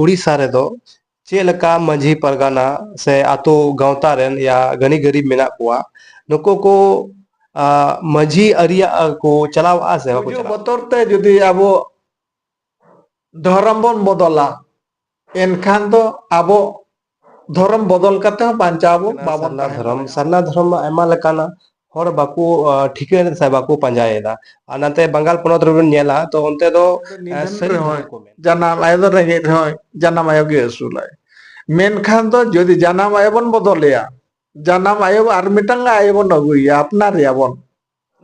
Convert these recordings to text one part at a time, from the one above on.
ᱩᱲᱤᱥᱥᱟ ᱨᱮᱫᱚ ᱪᱮᱫ ᱞᱮᱠᱟ ᱢᱟᱹᱡᱷᱤ ᱯᱟᱨᱜᱟᱱᱟ ᱥᱮ ᱟᱛᱳ ᱜᱟᱶᱛᱟ ᱨᱮᱱ ᱭᱟ ᱜᱟᱹᱱᱤ ᱜᱟᱹᱨᱤᱵ ᱢᱮᱱᱟᱜ ᱠᱚᱣᱟ ᱱᱩᱠᱩ ᱠᱚ ᱢᱟᱹᱡᱷᱤ ᱟᱹᱨᱤᱭᱟᱜ ᱠᱚ ᱪᱟᱞᱟᱣᱚᱜᱼᱟ ᱥᱮ ᱵᱟᱠᱚ ᱪᱟᱞᱟᱣᱚᱜᱼᱟ ᱵᱚᱛᱚᱨ ᱛᱮ ᱡᱩᱫᱤ ᱟᱵᱚ ᱫᱷᱚᱨᱚᱢ ᱵᱚᱱ ᱵᱚᱫᱚᱞᱟ ᱮᱱᱠᱷᱟᱱ ᱫᱚ ᱟᱵᱚ ᱫᱷᱚᱨᱚᱢ ᱵᱚᱫᱚᱞ ᱠᱟᱛᱮ ᱦᱚᱸ ᱵᱟᱧ ᱠᱟᱱᱟ ᱥᱟᱨᱱᱟ ᱫᱷᱚᱨᱚᱢ ᱥᱟᱨᱱᱟ ᱫᱷᱚᱨᱚᱢ ᱢᱟ ᱟᱭᱢᱟ ᱞᱮᱠᱟᱱᱟ ᱦᱚᱲ ᱵᱟᱠᱚ ᱴᱷᱤᱠᱟᱹᱭ ᱫᱟ ᱥᱮ ᱵᱟᱠᱚ ᱯᱟᱸᱡᱟᱭᱮᱫᱟ ᱟᱨ ᱱᱟᱛᱮ ᱵᱟᱝᱜᱟᱞ ᱯᱚᱱᱚᱛ ᱨᱮᱵᱚᱱ ᱧᱮᱞᱟ ᱛᱚ ᱚᱱᱛᱮ ᱫᱚ ᱥᱟᱹᱨᱤ ᱫᱷᱚᱨᱚᱢ ᱠᱚ ᱢᱮᱱᱟ ᱡᱟᱱᱟᱢ ᱟᱭᱳ ᱫᱚ ᱨᱮᱸᱜᱮᱡ ᱨᱮᱦᱚᱸᱭ ᱡᱟᱱᱟᱢ ᱟᱭᱳ ᱜᱮ ᱟᱹᱥᱩᱞᱟᱭ ᱢᱮᱱᱠᱷᱟᱱ ᱫᱚ ᱡᱩᱫᱤ ᱡᱟᱱᱟᱢ ᱟᱭᱳ ᱵᱚᱱ ᱵᱚᱫᱚᱞᱮᱭᱟ ᱡᱟᱱᱟᱢ ᱟᱭᱳ ᱟᱨ ᱢᱤᱫᱴᱟᱝ ᱟᱭᱳ ᱵᱚᱱ ᱟᱹᱜᱩᱭᱮᱭᱟ ᱟᱯᱱᱟᱨᱮᱭᱟ ᱵᱚᱱ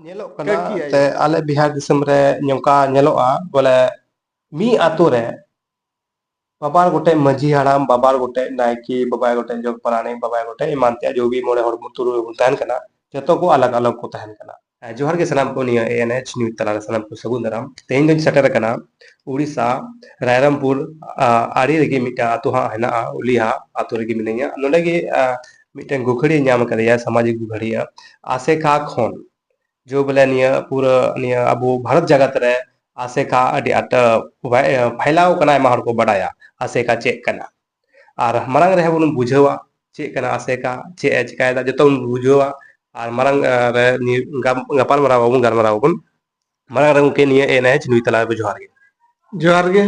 ᱧᱮᱞᱚᱜ ᱠᱟᱱᱟ ᱮᱱᱛᱮ ᱟᱞᱮ ᱵᱤᱦᱟᱨ ᱫᱤᱥᱚᱢ ᱨᱮ ᱱᱚᱝᱠᱟ ᱧᱮᱞᱚᱜᱼᱟ ᱵᱚᱞᱮ ᱢᱤᱫ ᱟᱛᱳ ᱨᱮ ᱵᱟᱵᱟᱨ ᱜᱚᱴᱮᱡ ᱢᱟᱹᱡᱷᱤ ᱦᱟᱲᱟᱢ ᱵᱟᱵᱟᱨ ᱜᱚᱴᱮᱡ ᱱᱟᱭᱠᱮ ᱵᱟᱵᱟᱭ ᱜᱚᱴᱮᱡ ᱡᱚᱜᱽ ᱯᱟᱨᱟᱱᱤᱠ ᱵᱟᱵᱟᱭ ᱜᱚᱴᱮᱡ ᱮᱢᱟᱱ ᱛᱮᱭᱟᱜ ᱡᱚ ᱵᱤ ᱢᱚᱬᱮ ᱦᱚᱲ ᱵᱚᱱ ᱛᱩᱨᱩᱭ ᱦᱚᱲ ᱵᱚᱱ ᱛᱟᱦᱮᱱ ᱠᱟᱱᱟ ᱡᱚᱛᱚ ᱠᱚ ᱟᱞᱟᱜᱽ ᱟᱞᱟᱜᱽ ᱠᱚ ᱛᱟᱦᱮᱱ ᱠᱟᱱᱟ ᱡᱚᱦᱟᱨ ᱜᱮ ᱥᱟᱱᱟᱢ ᱠᱚ ᱱᱤᱭᱟᱹ ᱮ ᱮᱱ ᱮᱪ ᱱᱤᱭᱩᱡᱽ ᱛᱟᱞᱟ ᱨᱮ ᱥᱟᱱᱟᱢ ᱠᱚ ᱥᱟᱹᱜᱩᱱ ᱫᱟᱨᱟᱢ ᱛᱮᱦᱮᱧ ᱫᱚᱧ ᱥᱮᱴᱮᱨ ᱟᱠᱟᱱᱟ ᱩᱲᱤᱥᱥᱟ ᱨᱟᱭᱨᱟᱢᱯᱩᱨ ᱟᱲᱮ ᱨᱮᱜᱮ ᱢᱤᱫᱴᱟᱝ ᱟᱛᱳ ᱦᱟᱸᱜ ᱦᱮᱱᱟᱜᱼᱟ ᱩᱞᱤᱦᱟ ᱟᱛᱳ ᱨᱮᱜᱮ ᱢᱤᱱᱟᱹᱧᱟ ᱱᱚᱰᱮ ᱜᱮ ᱢᱤᱫᱴᱟᱝ ᱜᱩᱠᱷᱟᱹᱲᱤᱭᱟᱹ ᱧᱟᱢ ᱟᱠᱟᱫᱮᱭᱟ ᱥᱟᱢᱟᱡᱤᱠ ᱜᱩᱠᱷᱟᱹᱲᱤᱭᱟᱹ ᱟᱥᱮᱠᱟ ᱠᱷᱚᱱ ᱡᱳ ᱵᱚᱞᱮ ᱱᱤᱭᱟᱹ ᱯᱩᱨᱟᱹ ᱱᱤᱭᱟᱹ ᱟᱵᱚ ᱵᱷᱟᱨᱚᱛ ᱡᱟᱜᱟᱛ ᱨᱮ ᱟᱥᱮᱠᱟ ᱟᱹᱰᱤ ᱟᱸᱴ ᱯᱷᱟᱭᱞᱟᱣ ᱠᱟᱱᱟ ᱟᱭᱢᱟ ᱦᱚᱲ ᱠᱚ ᱵᱟᱰᱟᱭᱟ ᱟᱥᱮᱠᱟ ᱪᱮᱫ ᱠᱟᱱᱟ ᱟᱨ ᱢᱟᱨᱟᱝ ᱨᱮᱦᱚᱸ ᱵᱚᱱ ᱵᱩᱡᱷᱟᱹᱣᱟ ᱪᱮᱫ ᱠᱟᱱᱟ ᱟᱥᱮᱠᱟ ᱪᱮᱫ ᱮ ᱪᱤᱠᱟᱭᱮᱫᱟ ᱡᱚᱛᱚ ᱵᱚᱱ ᱵᱩᱡᱷᱟᱹᱣᱟ ᱟᱨ ᱢᱟᱨᱟᱝ ᱨᱮ ᱜᱟᱯᱟᱞᱢᱟᱨᱟᱣ ᱟᱵᱚᱱ ᱜᱟᱞᱢᱟᱨᱟᱣ ᱟᱵᱚᱱ ᱢᱟᱨᱟᱝ ᱨᱮ ᱜᱚᱢᱠᱮ ᱱᱤᱭᱟᱹ ᱮᱱ ᱮᱪ ᱱᱩᱭ ᱛᱟᱞᱟ ᱨᱮ ᱡᱚᱦᱟᱨ ᱜᱮ ᱡᱚᱦᱟᱨ ᱜᱮ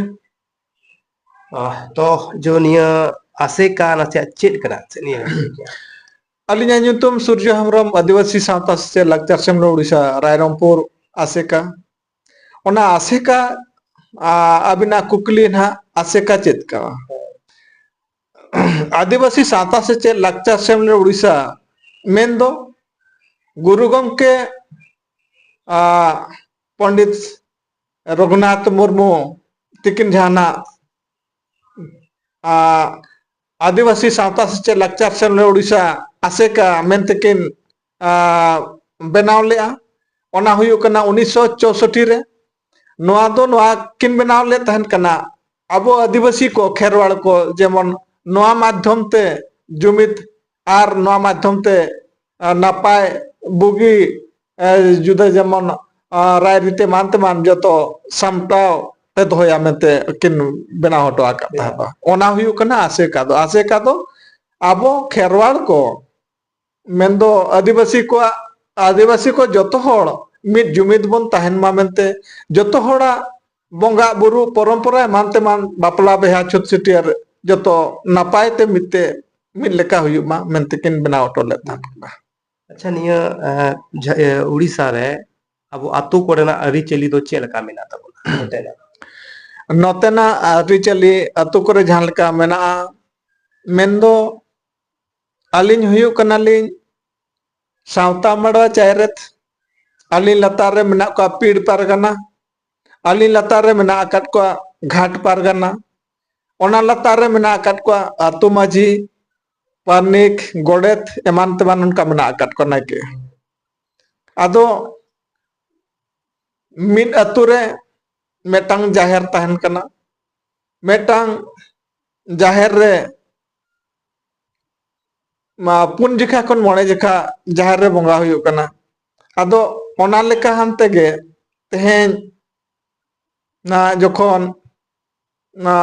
ᱛᱚ ᱡᱚ ᱱᱤᱭᱟᱹ ᱟᱥᱮᱠᱟ ᱱᱟᱥᱮᱭᱟᱜ ᱪᱮᱫ ᱠᱟᱱᱟ ᱱᱤᱭᱟᱹ ᱟᱹᱞᱤᱧᱟᱜ ᱧᱩᱛᱩᱢ ᱥᱩᱨᱡᱚ ᱦᱮᱢᱵᱨᱚᱢ ᱟᱹᱫᱤᱵᱟᱹᱥᱤ ᱥᱟᱶᱛᱟ ᱥᱮᱪᱮᱫ ᱞᱟᱠᱪᱟᱨ ᱥᱮᱢᱞᱮᱫ ᱩᱲᱤᱥᱥᱟ ᱨᱟᱭᱨᱚᱝᱯᱩᱨ ᱟᱥᱮᱠᱟ ᱚᱱᱟ ᱟᱥᱮᱠᱟ ᱟᱹᱵᱤᱱᱟᱜ ᱠᱩᱠᱞᱤ ᱱᱟᱦᱟᱜ ᱟᱥᱮᱠᱟ ᱪᱮᱫ ᱠᱟᱱᱟ ᱟᱹᱫᱤᱵᱟᱹᱥᱤ ᱥᱟᱶᱛᱟ ᱥᱮᱪᱮᱫ ᱞᱟᱠᱪᱟᱨ ᱥᱮᱢᱞᱮᱫ ᱩᱲᱤᱥᱥᱟ ᱢᱮᱱᱫᱚ ᱜᱩᱨᱩ ᱜᱚᱢᱠᱮ ᱯᱚᱱᱰᱤᱛ ᱨᱚᱜᱷᱩᱱᱟᱛᱷ ᱢᱩᱨᱢᱩ ᱛᱤᱠᱤᱱ ᱡᱟᱦᱟᱱᱟᱜ ᱟᱹᱫᱤᱵᱟᱹᱥᱤ ᱥᱟᱶᱛᱟ ᱥᱮᱪᱮᱫ ᱞᱟᱠᱪᱟᱨ ᱥᱮᱢ ᱞᱮᱫ ᱳᱰᱤᱥᱟ ᱟᱥᱮᱠᱟ ᱢᱮᱱᱛᱮ ᱠᱤᱱ ᱵᱮᱱᱟᱣ ᱞᱮᱫᱼᱟ ᱚᱱᱟ ᱦᱩᱭᱩᱜ ᱠᱟᱱᱟ ᱩᱱᱤᱥᱥᱚ ᱪᱳᱥᱚᱴᱴᱤ ᱨᱮ ᱱᱚᱣᱟ ᱫᱚ ᱱᱚᱣᱟ ᱠᱤᱱ ᱵᱮᱱᱟᱣ ᱞᱮᱫ ᱛᱟᱦᱮᱱ ᱠᱟᱱᱟ ᱟᱵᱚ ᱟᱹᱫᱤᱵᱟᱹᱥᱤ ᱠᱚ ᱠᱷᱮᱨᱣᱟᱲ ᱠᱚ ᱡᱮᱢᱚᱱ ᱱᱚᱣᱟ ᱢᱟᱫᱽᱫᱷᱚᱢ ᱛᱮ ᱡᱩᱢᱤᱫ ᱟᱨ ᱱᱚᱣᱟ ᱢᱟᱫᱽᱫᱷᱚᱢ ᱛᱮ ᱱᱟᱯᱟᱭ ᱵᱩᱜᱤ ᱡᱩᱫᱟᱹ ᱡᱮᱢᱚᱱ ᱨᱟᱭᱨᱤᱛ ᱮᱢᱟᱱ ᱛᱮᱢᱟᱱ ᱡᱚᱛᱚ ᱥᱟᱢᱴᱟᱣ ᱛᱮ ᱫᱚᱦᱚᱭᱟ ᱢᱮᱱᱛᱮ ᱠᱤᱱ ᱵᱮᱱᱟᱣ ᱦᱚᱴᱚ ᱟᱠᱟᱫ ᱛᱟᱦᱮᱸᱫ ᱚᱱᱟ ᱦᱩᱭᱩᱜ ᱠᱟᱱᱟ ᱟᱥᱮᱠᱟ ᱫᱚ ᱟᱥᱮᱠᱟ ᱫᱚ ᱟᱵᱚ ᱠᱷᱮᱨᱣᱟᱲ ᱠᱚ ᱢᱮᱱᱫᱚ ᱟᱹᱫᱤᱵᱟᱹᱥᱤ ᱠᱚᱣᱟᱜ ᱟᱹᱫᱤᱵᱟᱹᱥᱤ ᱠᱚ ᱡᱚᱛᱚ ᱦᱚᱲ ᱢᱤᱫ ᱡᱩᱢᱤᱫ ᱵᱚᱱ ᱛᱟᱦᱮᱱ ᱢᱟ ᱢᱮᱱᱛᱮ ᱡᱚᱛᱚ ᱦᱚᱲᱟᱜ ᱵᱚᱸᱜᱟ ᱵᱩᱨᱩ ᱯᱚᱨᱚᱢᱯᱚᱨᱟ ᱮᱢᱟᱱ ᱛᱮᱢᱟᱱ ᱵᱟᱯᱞᱟ ᱵᱮᱦᱟ ᱪᱷᱩᱛ ᱪᱷᱟᱹᱴᱭᱟᱹᱨ ᱡᱚᱛᱚ ᱱᱟᱯᱟᱭ ᱛᱮ ᱢᱤᱫ ᱛᱮ ᱢᱤᱫ ᱞᱮᱠᱟ ᱦᱩᱭᱩᱜ ᱢᱟ ᱢᱮᱱᱛᱮ ᱠᱤᱱ ᱵᱮᱱᱟᱣ ᱦᱚᱴᱚ ᱞᱮᱫ ᱛᱟᱦᱮᱸᱫ ᱠᱟᱱᱟ ᱟᱪᱪᱷᱟ ᱱᱤᱭᱟᱹ ᱮᱸ, ᱡᱷᱟ- ᱮ, ᱩᱲᱤᱥᱥᱟ ᱨᱮ ᱟᱵᱚ ᱟᱛᱳ ᱠᱚᱨᱮᱱᱟᱜ ᱟᱹᱨᱤᱪᱟᱹᱞᱤ ᱫᱚ ᱪᱮᱫ ᱞᱮᱠᱟ ᱢᱮᱱᱟᱜ ᱛᱟᱵᱚᱱᱟ ᱱᱚᱛᱮᱱᱟᱜ? ᱱᱚᱛᱮᱱᱟᱜ ᱟᱹᱨᱤᱪᱟᱹᱞᱤ ᱟᱛᱳ ᱠᱚᱨᱮ ᱡᱟᱦᱟᱸ ᱞᱮᱠᱟ ᱢᱮᱱᱟᱜᱼᱟ ᱢᱮᱱᱫᱚ ᱟᱹᱞᱤᱧ ᱦᱩᱭᱩᱜ ᱠᱟᱱᱟᱞᱤᱧ ᱥᱟᱶᱛᱟ ᱢᱟᱰᱣᱟ ᱪᱟᱭᱨᱮᱛ ᱟᱹᱞᱤᱧ ᱞᱟᱛᱟᱨ ᱨᱮ ᱢᱮᱱᱟᱜ ᱠᱚᱣᱟ ᱯᱤᱲ ᱯᱟᱨᱜᱟᱱᱟ ᱟᱹᱞᱤᱧ ᱞᱟᱛᱟᱨ ᱨᱮ ᱢᱮᱱᱟᱜ ᱟᱠᱟᱫ ᱠᱚᱣᱟ ᱜᱷᱟᱴ ᱯᱟᱨᱜᱟᱱᱟ ᱚᱱᱟ ᱞᱟᱛᱟᱨ ᱨᱮ ᱢᱮᱱᱟᱜ ᱟᱠᱟᱫ ᱠᱚᱣᱟ ᱟᱛᱳ ᱢᱟᱹᱡᱷᱤ ᱯᱟᱨᱱᱤᱠ ᱜᱚᱰᱮᱛ ᱮᱢᱟᱱ ᱛᱮᱢᱟᱱ ᱚᱱᱠᱟ ᱢᱮᱱᱟᱜ ᱟᱠᱟᱫ ᱠᱚᱣᱟ ᱱᱟᱭᱠᱮ ᱟᱫᱚ ᱢᱤᱫ ᱟᱛᱳ ᱨᱮ ᱢᱤᱫᱴᱟᱝ ᱡᱟᱦᱮᱨ ᱛᱟᱦᱮᱱ ᱠᱟᱱᱟ ᱢᱤᱫᱴᱟᱝ ᱡᱟᱦᱮᱨ ᱨᱮ ᱯᱩᱱ ᱡᱮᱠᱷᱟ ᱠᱷᱚᱱ ᱢᱚᱬᱮ ᱡᱮᱠᱷᱟ ᱡᱟᱦᱮᱨ ᱨᱮ ᱵᱚᱸᱜᱟ ᱦᱩᱭᱩᱜ ᱠᱟᱱᱟ ᱟᱫᱚ ᱚᱱᱟ ᱞᱮᱠᱟ ᱦᱟᱱ ᱛᱮᱜᱮ ᱛᱮᱦᱮᱧ ᱱᱟ ᱡᱚᱠᱷᱚᱱ ᱱᱟ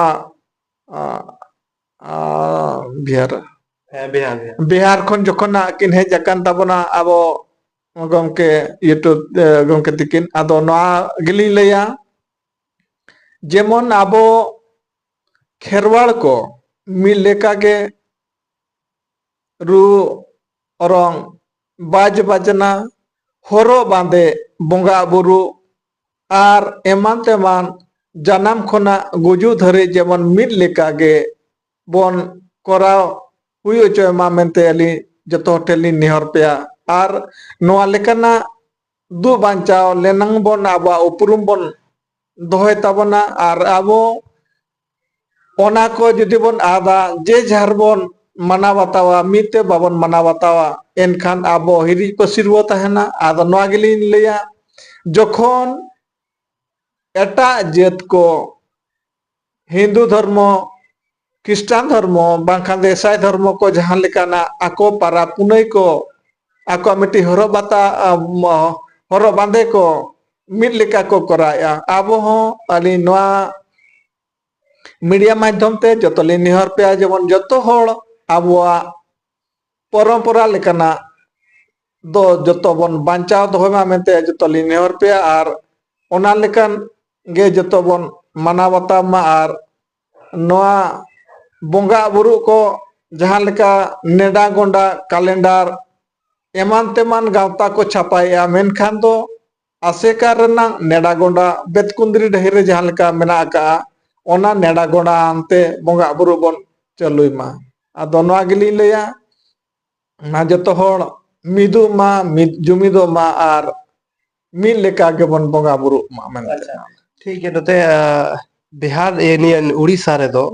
ᱵᱤᱦᱟᱨ ᱦᱮᱸ ᱵᱤᱦᱟᱨ ᱜᱮ ᱵᱤᱦᱟᱨ ᱠᱷᱚᱱ ᱡᱚᱠᱷᱚᱱ ᱱᱟᱜ ᱠᱤᱱ ᱦᱮᱡ ᱟᱠᱟᱱ ᱛᱟᱵᱚᱱᱟ ᱟᱵᱚ ᱜᱚᱝᱠᱮ ᱤᱭᱩᱴᱩᱵᱽ ᱜᱚᱝᱠᱮ ᱛᱤᱠᱤᱱ ᱟᱫᱚ ᱱᱚᱣᱟ ᱜᱮᱞᱤᱧ ᱞᱟᱹᱭᱟ ᱡᱮᱢᱚᱱ ᱟᱵᱚ ᱠᱷᱮᱨᱣᱟᱲ ᱠᱚ ᱢᱤᱫ ᱞᱮᱠᱟᱜᱮ ᱨᱩ ᱚᱨᱚᱝ ᱵᱟᱡᱽ ᱵᱟᱡᱽᱱᱟ ᱦᱚᱨᱚᱜ ᱵᱟᱸᱫᱮ ᱵᱚᱸᱜᱟ ᱵᱩᱨᱩ ᱟᱨ ᱮᱢᱟᱱ ᱛᱮᱢᱟᱱ ᱡᱟᱱᱟᱢ ᱠᱷᱚᱱᱟᱜ ᱜᱩᱡᱩᱜ ᱫᱷᱟᱹᱨᱤᱡ ᱡᱮᱢᱚᱱ ᱢᱤᱫ ᱞᱮᱠᱟ ᱜᱮ ᱵᱚᱱ ᱠᱚᱨᱟᱣ ᱦᱩᱭ ᱚᱪᱚᱭ ᱢᱟ ᱢᱮᱱᱛᱮ ᱟᱹᱞᱤᱧ ᱡᱚᱛᱚ ᱦᱚᱲ ᱴᱷᱮᱱ ᱞᱤᱧ ᱱᱮᱦᱚᱨ ᱯᱮᱭᱟ ᱟᱨ ᱱᱚᱣᱟ ᱞᱮᱠᱟᱱᱟᱜ ᱫᱩᱜ ᱵᱟᱧᱪᱟᱣ ᱞᱮᱱᱟᱝ ᱵᱚᱱ ᱟᱵᱚᱣᱟᱜ ᱩᱯᱨᱩᱢ ᱵᱚᱱ ᱫᱚᱦᱚᱭ ᱛᱟᱵᱚᱱᱟ ᱟᱨ ᱟᱵᱚ ᱚᱱᱟ ᱠᱚ ᱡᱩᱫᱤ ᱵᱚᱱ ᱟᱫᱟ ᱡᱮ ᱡᱷᱟᱨ ᱵᱚᱱ ᱢᱟᱱᱟᱣ ᱵᱟᱛᱟᱣᱟ ᱢᱤᱫ ᱛᱮ ᱵᱟᱵᱚᱱ ᱢᱟᱱᱟᱣ ᱵᱟᱛᱟᱣᱟ ᱮᱱᱠᱷᱟᱱ ᱟᱵᱚ ᱦᱤᱨᱤᱡ ᱯᱟᱹᱥᱤᱨ ᱵᱚ ᱛᱟᱦᱮᱱᱟ ᱟᱫᱚ ᱱᱚᱣᱟ ᱜᱮᱞᱤᱧ ᱞᱟᱹᱭᱟ ᱡᱚᱠᱷᱚᱱ ᱮᱴᱟᱜ ᱡᱟᱹᱛ ᱠᱚ ᱦᱤᱱᱫᱩ ᱫᱷᱚᱨᱢᱚ ᱠᱷᱨᱤᱥᱴᱟᱱ ᱫᱷᱚᱨᱢᱚ ᱵᱟᱝᱠᱷᱟᱱ ᱫᱚ ᱤᱥᱟᱭ ᱫᱷᱚᱨᱢᱚ ᱠᱚ ᱡᱟᱦᱟᱸ ᱞᱮᱠᱟᱱᱟᱜ ᱟᱠᱚ ᱯᱟᱨᱟᱵᱽ ᱯᱩᱱᱟᱹᱭ ᱠᱚ ᱟᱠᱚᱣᱟᱜ ᱢᱤᱫᱴᱤᱡ ᱦᱚᱨᱚᱜ ᱵᱟᱛᱟ ᱦᱚᱨᱚᱜ ᱵᱟᱸᱫᱮ ᱠᱚ ᱢᱤᱫ ᱞᱮᱠᱟ ᱠᱚ ᱠᱚᱨᱟᱣᱮᱫᱼᱟ ᱟᱵᱚ ᱦᱚᱸ ᱟᱹᱞᱤᱧ ᱱᱚᱣᱟ ᱢᱤᱰᱤᱭᱟ ᱢᱟᱫᱽᱫᱷᱚᱢ ᱛᱮ ᱡᱚᱛᱚ ᱞᱤᱧ ᱱᱮᱦᱚᱨ ᱯᱮᱭᱟ ᱡᱮᱢᱚᱱ ᱡᱚᱛᱚ ᱦᱚᱲ ᱟᱵᱚᱣᱟᱜ ᱯᱚᱨᱚᱢᱯᱚᱨᱟ ᱞᱮᱠᱟᱱᱟᱜ ᱫᱚ ᱡᱚᱛᱚ ᱵᱚᱱ ᱵᱟᱧᱪᱟᱣ ᱫᱚᱦᱚᱭ ᱢᱟ ᱢᱮᱱᱛᱮ ᱡᱚᱛᱚ ᱞᱤᱧ ᱱᱮᱦᱚᱨ ᱯᱮᱭᱟ ᱟᱨ ᱚᱱᱟ ᱞᱮᱠᱟᱱ ᱜᱮ ᱡᱚᱛᱚ ᱵᱚᱱ ᱢᱟᱱᱟᱣ ᱵᱟᱛᱟᱣ ᱢᱟ ᱟᱨ ᱱᱚᱣᱟ ᱵᱚᱸᱜᱟ ᱵᱩᱨᱩ ᱠᱚ ᱡᱟᱦᱟᱸ ᱞᱮᱠᱟ ᱱᱮᱰᱟ ᱜᱚᱸᱰᱟ ᱠᱟᱞᱮᱱᱰᱟᱨ ᱮᱢᱟᱱ ᱛᱮᱢᱟᱱ ᱜᱟᱶᱛᱟ ᱠᱚ ᱪᱷᱟᱯᱟᱭᱮᱜᱼᱟ ᱢᱮᱱᱠᱷᱟᱱ ᱫᱚ ᱟᱥᱮᱠᱟ ᱨᱮᱱᱟᱜ ᱱᱮᱰᱟ ᱜᱚᱸᱰᱟ ᱵᱮᱛᱠᱩᱸᱫᱽᱨᱤ ᱰᱟᱹᱦᱤ ᱨᱮ ᱡᱟᱦᱟᱸ ᱞᱮᱠᱟ ᱢᱮᱱᱟᱜ ᱟᱠᱟᱜᱼᱟ ᱚᱱᱟ ᱱᱮᱰᱟ ᱜᱚᱸᱰᱟ ᱟᱱᱛᱮ ᱵᱚᱸᱜᱟ ᱵᱩᱨᱩ ᱵᱚᱱ ᱪᱟᱹᱞᱩᱭ ᱢᱟ ᱟᱫᱚ ᱱᱚᱣᱟ ᱜᱮᱞᱤᱧ ᱞᱟᱹᱭᱟ ᱢᱟ ᱡᱚᱛᱚ ᱦᱚᱲ ᱢᱤᱫᱚᱜ ᱢᱟ ᱢᱤᱫ ᱡᱩᱢᱤᱫᱚᱜ ᱢᱟ ᱟᱨ ᱢᱤᱫ ᱞᱮᱠᱟ ᱜᱮᱵᱚᱱ ᱵᱚᱸᱜᱟ ᱵᱩᱨᱩᱜ ᱢᱟ ᱢᱮᱱᱛᱮ ᱟᱪᱪᱷᱟ ᱴᱷᱤᱠ ᱜᱮᱭᱟ ᱱᱚᱛᱮ ᱵᱤᱦᱟᱨ ᱤᱭᱟᱹ ᱱᱤᱭᱟᱹ ᱩᱲᱤᱥᱥᱟ ᱨᱮᱫᱚ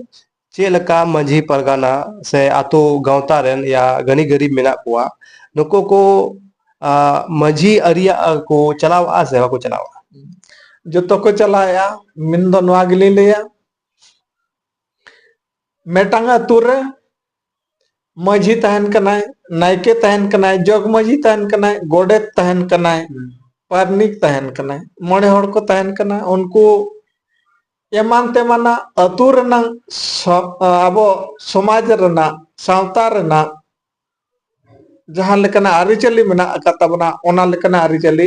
ᱪᱮᱫ ᱞᱮᱠᱟ ᱢᱟᱺᱡᱷᱤ ᱯᱟᱨᱜᱟᱱᱟ ᱥᱮ ᱟᱛᱳ ᱜᱟᱶᱛᱟ ᱨᱮᱱ ᱭᱟ ᱜᱟᱹᱱᱤ ᱜᱟᱹᱨᱤᱵ ᱢᱮᱱᱟᱜ ᱠᱚᱣᱟ ᱱᱩᱠᱩ ᱠᱚ ᱟ, ᱢᱟᱺᱡᱷᱤ ᱟᱹᱨᱤᱭᱟᱜ ᱠᱚ ᱪᱟᱞᱟᱣᱼᱟ ᱥᱮ ᱵᱟᱠᱚ ᱪᱟᱞᱟᱣᱼᱟ ᱡᱚᱛᱚ ᱠᱚ ᱪᱟᱞᱟᱣᱮᱜᱼᱟ ᱢᱮᱱ ᱫᱚ ᱱᱚᱣᱟ ᱜᱮᱞᱤᱧ ᱞᱟᱹᱭᱟ ᱢᱤᱫᱴᱟᱝ ᱟᱛᱳ ᱨᱮ ᱢᱟᱺᱡᱷᱤ ᱛᱟᱦᱮᱱ ᱠᱟᱱᱟᱭ ᱱᱟᱭᱠᱮ ᱛᱟᱦᱮᱱ ᱠᱟᱱᱟᱭ ᱡᱚᱜᱽ ᱢᱟᱺᱡᱷᱤ ᱛᱟᱦᱮᱱ ᱠᱟᱱᱟᱭ ᱜᱚᱰᱮᱛ ᱛᱟᱦᱮᱱ ᱠᱟᱱᱟᱭ ᱯᱟᱨᱱᱤᱠ ᱛᱟᱦᱮᱱ ᱠᱟᱱᱟᱭ ᱢᱚᱬᱮ ᱦᱚᱲ ᱠᱚ ᱛᱟᱦᱮᱱ ᱠᱟᱱᱟ ᱩᱱᱠᱩ ᱮᱢᱟᱱ ᱛᱮᱢᱟᱱᱟᱜ ᱟᱹᱛᱩ ᱨᱮᱱᱟᱝ ᱟᱵᱚ ᱥᱚᱢᱟᱡᱽ ᱨᱮᱱᱟᱜ ᱥᱟᱶᱛᱟ ᱨᱮᱱᱟᱜ ᱡᱟᱦᱟᱸ ᱞᱮᱠᱟᱱᱟᱜ ᱟᱹᱨᱤᱪᱟᱹᱞᱤ ᱢᱮᱱᱟᱜ ᱟᱠᱟᱫ ᱛᱟᱵᱚᱱᱟ ᱚᱱᱟ ᱞᱮᱠᱟᱱᱟᱜ ᱟᱹᱨᱤᱪᱟᱹᱞᱤ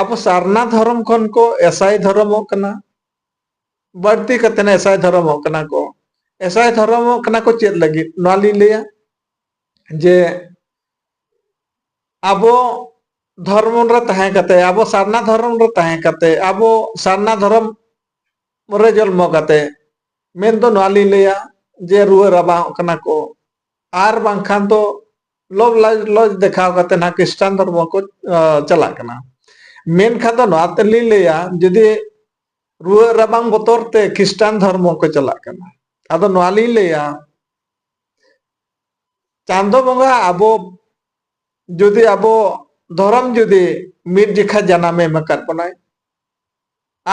ᱟᱵᱚ ᱥᱟᱨᱱᱟ ᱫᱷᱚᱨᱚᱢ ᱠᱷᱚᱱ ᱠᱚ ᱮᱥᱟᱭ ᱫᱷᱚᱨᱚᱢᱚᱜ ᱠᱟᱱᱟ ᱵᱟᱹᱲᱛᱤ ᱠᱟᱛᱮ ᱮᱥᱟᱭ ᱫᱷᱚᱨᱚᱢᱚᱜ ᱠᱟᱱᱟ ᱠᱚ ᱮᱥᱟᱭ ᱫᱷᱚᱨᱚᱢᱚᱜ ᱠᱟᱱᱟ ᱠᱚ ᱪᱮᱫ ᱞᱟᱹᱜᱤᱫ ᱱᱚᱣᱟ ᱞᱤᱧ ᱞᱟᱹᱭᱟ ᱡᱮ ᱟᱵᱚ ᱫᱷᱚᱨᱢ ᱨᱮ ᱛᱟᱦᱮᱸ ᱠᱟᱛᱮ ᱟᱵᱚ ᱥᱟᱨᱱᱟ ᱫᱷᱚᱨᱚᱢ ᱨᱮ ᱛᱟᱦᱮᱸ ᱠᱟᱛᱮ ᱟᱵᱚ ᱥᱟᱨᱱᱟ ᱫᱷᱚᱨᱚᱢ ᱨᱮ ᱡᱚᱱᱢᱚ ᱠᱟᱛᱮ ᱢᱮᱱ ᱫᱚ ᱱᱚᱣᱟ ᱞᱤᱧ ᱞᱟᱹᱭᱟ ᱡᱮ ᱨᱩᱣᱟᱹ ᱨᱟᱵᱟᱝᱚᱜ ᱠᱟᱱᱟ ᱠᱚ ᱟᱨ ᱵᱟᱝᱠᱷᱟᱱ ᱫᱚ ᱞᱚᱵ ᱞᱟᱡ ᱞᱚᱡ ᱫᱮᱠᱷᱟᱣ ᱠᱟᱛᱮ ᱱᱟᱦᱟᱜ ᱠᱷᱨᱤᱥᱴᱟᱱ ᱫᱷᱚᱨᱢᱚ ᱠᱚ ᱪᱟᱞᱟᱜ ᱠᱟᱱᱟ ᱢᱮᱱᱠᱷᱟᱱ ᱫᱚ ᱱᱚᱣᱟ ᱛᱮᱞᱤᱧ ᱞᱟᱹᱭᱟ ᱡᱩᱫᱤ ᱨᱩᱣᱟᱹᱜ ᱨᱟᱵᱟᱝ ᱵᱚᱛᱚᱨ ᱛᱮ ᱠᱷᱨᱤᱥᱴᱟᱱ ᱫᱷᱚᱨᱢᱚ ᱠᱚ ᱪᱟᱞᱟᱜ ᱠᱟᱱᱟ ᱟᱫᱚ ᱱᱚᱣᱟ ᱞᱤᱧ ᱞᱟᱹᱭᱟ ᱪᱟᱸᱫᱚ ᱵᱚᱸᱜᱟ ᱟᱵᱚ ᱡᱩᱫᱤ ᱟᱵᱚ ᱫᱷᱚᱨᱚᱢ ᱡᱩᱫᱤ ᱢᱤᱫ ᱡᱮᱠᱷᱟ ᱡᱟᱱᱟᱢᱮ ᱮᱢ ᱟᱠᱟᱫ ᱵᱚᱱᱟᱭ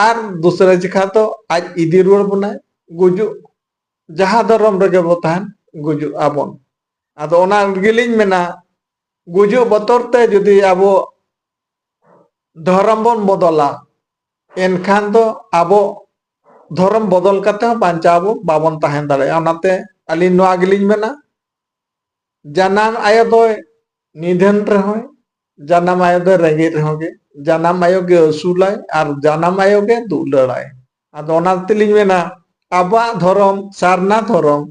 ᱟᱨ ᱫᱩᱥᱨᱟ ᱡᱮᱠᱷᱟ ᱫᱚ ᱟᱡ ᱤᱫᱤ ᱨᱩᱣᱟᱹᱲ ᱵᱚᱱᱟᱭ ᱜᱩᱡᱩᱜ ᱡᱟᱦᱟᱸ ᱫᱷᱚᱨᱚᱢ ᱨᱮᱜᱮ ᱵᱚ ᱛᱟᱦᱮᱱ ᱜᱩᱡᱩᱜ ᱟᱵᱚᱱ ᱟᱫᱚ ᱚᱱᱟ ᱜᱮᱞᱤᱧ ᱢᱮᱱᱟ ᱜᱩᱡᱩᱜ ᱵᱚᱛᱚᱨ ᱛᱮ ᱡᱩᱫᱤ ᱟᱵᱚ ᱫᱷᱚᱨᱚᱢ ᱵᱚᱱ ᱵᱚᱫᱚᱞᱟ ᱮᱱᱠᱷᱟᱱ ᱫᱚ ᱟᱵᱚ ᱫᱷᱚᱨᱚᱢ ᱵᱚᱫᱚᱞ ᱠᱟᱛᱮ ᱦᱚᱸ ᱵᱟᱧᱪᱟᱣ ᱟᱵᱚ ᱵᱟᱵᱚᱱ ᱛᱟᱦᱮᱸ ᱫᱟᱲᱮᱭᱟᱜᱼᱟ ᱚᱱᱟᱛᱮ ᱟᱹᱞᱤᱧ ᱱᱚᱣᱟ ᱜᱮᱞᱤᱧ ᱢᱮᱱᱟ ᱡᱟᱱᱟᱢ ᱟᱭᱳ ᱫᱚᱭ ᱱᱤᱫᱷᱟᱹᱱ ᱨᱮᱦᱚᱸᱭ ᱡᱟᱱᱟᱢ ᱟᱭᱳ ᱫᱚ ᱨᱮᱸᱜᱮᱡ ᱨᱮᱦᱚᱸ ᱜᱮ ᱡᱟᱱᱟᱢ ᱟᱭᱳ ᱜᱮ ᱟᱹᱥᱩᱞᱟᱭ ᱟᱨ ᱡᱟᱱᱟᱢ ᱟᱭᱳ ᱜᱮ ᱫᱩᱞᱟᱹᱲᱟᱭ ᱟᱫᱚ ᱚᱱᱟ ᱛᱮᱞᱤᱧ ᱢᱮᱱᱟ ᱟᱵᱚᱣᱟᱜ ᱫᱷᱚᱨᱚᱢ ᱥᱟᱨᱱᱟ ᱫᱷᱚᱨᱚᱢ